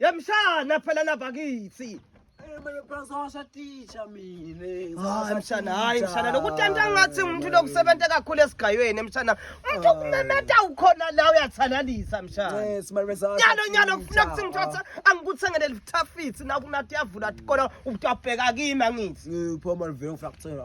Yamshana phela lapha kithi. Eh, hayi mshana hayi mshana lokutenta ngathi umuntu lokusebenza kakhulu esigayweni mshana umuntu okumemeta ukhona la uyathalalisa mshana nyalo nyalo kufuna kuthi ngithatha angikuthengele lithafisi nakunati yavula tikona ubutwabheka kimi angithi ngipho malivele ngifuna kuthengela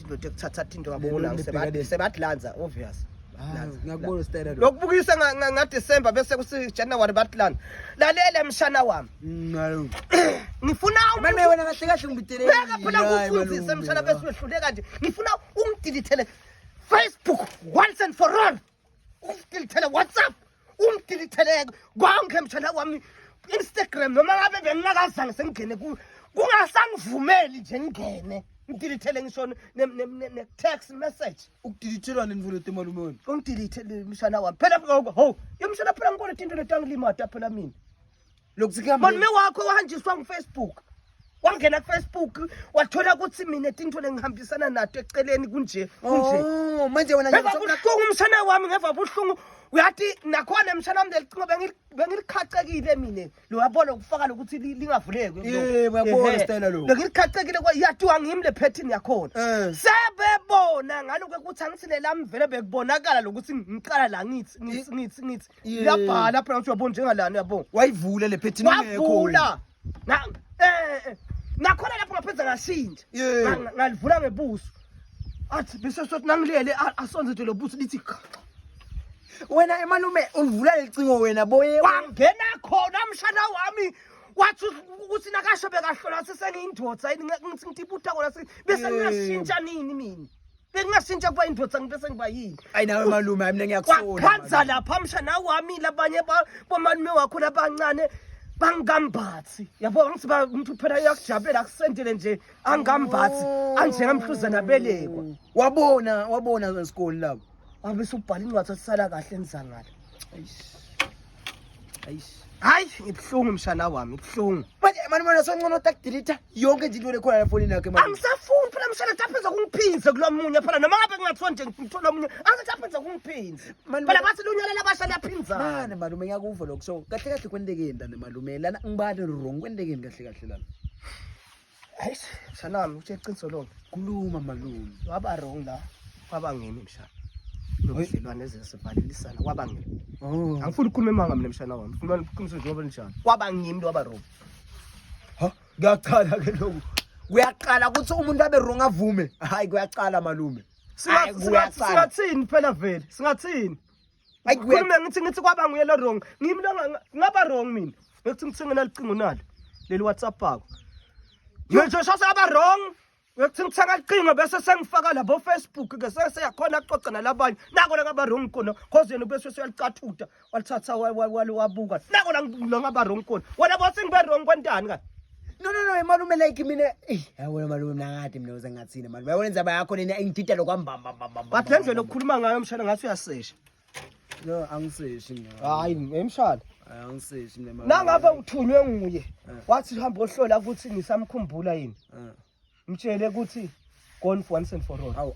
ndoda ekuthatha thinto ngabona sebadlanza obvious ah, ngiyakubona stela lo lokubukisa nga December bese kusi January badlana lalela mshana wami mm, ngifuna manje wena kahle kahle ngibidele ngeke phela kufundise mshana bese wehluleka nje ngifuna ungidilithele Facebook once and for all umdilithele whatsapp umdilitheleke konke mshana wami instagram noma ngabe bengingakazange sengingene kuyo kungasangivumeli nje ngingene ngidilithele ngisho ne-text message ukudilithelwa nini mfowethu emalume wenu ungidilithele mshana wami phela ho yomshana phela ngikoleta into letangilimata phela mina malume wakho wahanjiswa ngufacebook wangena kufacebook wathola ukuthi mina tinto lengihambisana nato eceleni kunje oh, kunjeevabuhlungu umshana wami ngeva buhlungu uyathi nakhona emshana wami lelicingo bengilikhacekile mina loyabona ukufaka lokuthi lingavulekebengilikhacekile yatiwa ngimi le phethini yakhona eh. sebebona ngaloku ukuthi angithi lelamvele bekubonakala lokuthi ngiqala la ngithi ngithi ngithi ngithi Yabhala phela uthi uyabona njengalana yabo. Wayivule le phethini ngekho. Wavula. Na eh, eh. Nakhona lapho ngaphenza ngashintsha. Ngalivula ngebuso. Athi bese sothi nangilele asonze nje lobuso lithi cha. Wena emalume ulivula lelicingo wena boye. Wangena khona mshana wami. wathi ukuthi nakasho bekahlola sesengiyindoda yini ngithi ngitibuta kona bese ngingashintsha nini mina bekungashintsha kuba indoda ngibe sengiba yini ayi nawe malume hayi mina ngiyakufuna kwakhanza lapha msha nawe wamile abanye bomalume wakho labancane bangambathi yabo ngithi ba umuntu phela uyakujabulela akusendele nje angambathi oh. anjengamhluzana belekwa wabona wabona zesikole lapho abe subhala incwadi asisala kahle nizangala hayi ngibuhlungu mshana wami buhlungu manje mani mona soncono takudelita yonke nje into lekhona lafonini yakhe mani angisafuni phela mshana taphenza kungiphinze kulo munye phela noma ngabe kungathiwa nje ngithola omunye angisaphenza kungiphinze Mani, phela mani. bathi lunyalela abasha liyaphinzana mane malume ngiyakuva lokho so kahle kahle kwendekeni lana malume lana ngibane wrong kwendekeni kahle kahle lana hayi mshanami uthe iqiniso lonke kuluma malume waba wrong la kwaba ngimi mshana nobudlelwane ezesivalelisana kwaba ngimi oh. angifuni ukukhuluma emanga mina mshana wami ngifuna iqiniso njengoba linjalo kwaba ngimi waba wrong ha kuyaqala ke lokhu kuyaqala ukuthi umuntu abe wrong avume hayi kuyaqala malume singathini phela vele singathini khulume ngithi ngithi kwaba nguye lo wrong ngimi lo ngaba wrong mina ngikuthi ngithengena licingo nalo leli whatsapp akho ngisho shase aba wrong ngikuthi ngithenga licingo bese sengifaka labo facebook ke seseyakhona kuxoxa nalabanye nako la ngaba wrong kona cause yena bese uyalicathuta walithatha wabuka nako la ngaba wrong kona wena bothi ngibe wrong kwentani kahle No no no malume like mina eh yabona malume mina ngade mina uze ngathina malume yabona indzaba yakho lena ingidida lokwambamba mbamba but le ndlela okukhuluma ngayo mshana ngathi uyasesha no angiseshi mina hayi emshana angiseshi mina malume nangabe uthunywe nguye eh. wathi hamba ohlola ukuthi nisamkhumbula yini eh. mtshele ukuthi gone for once and for all awu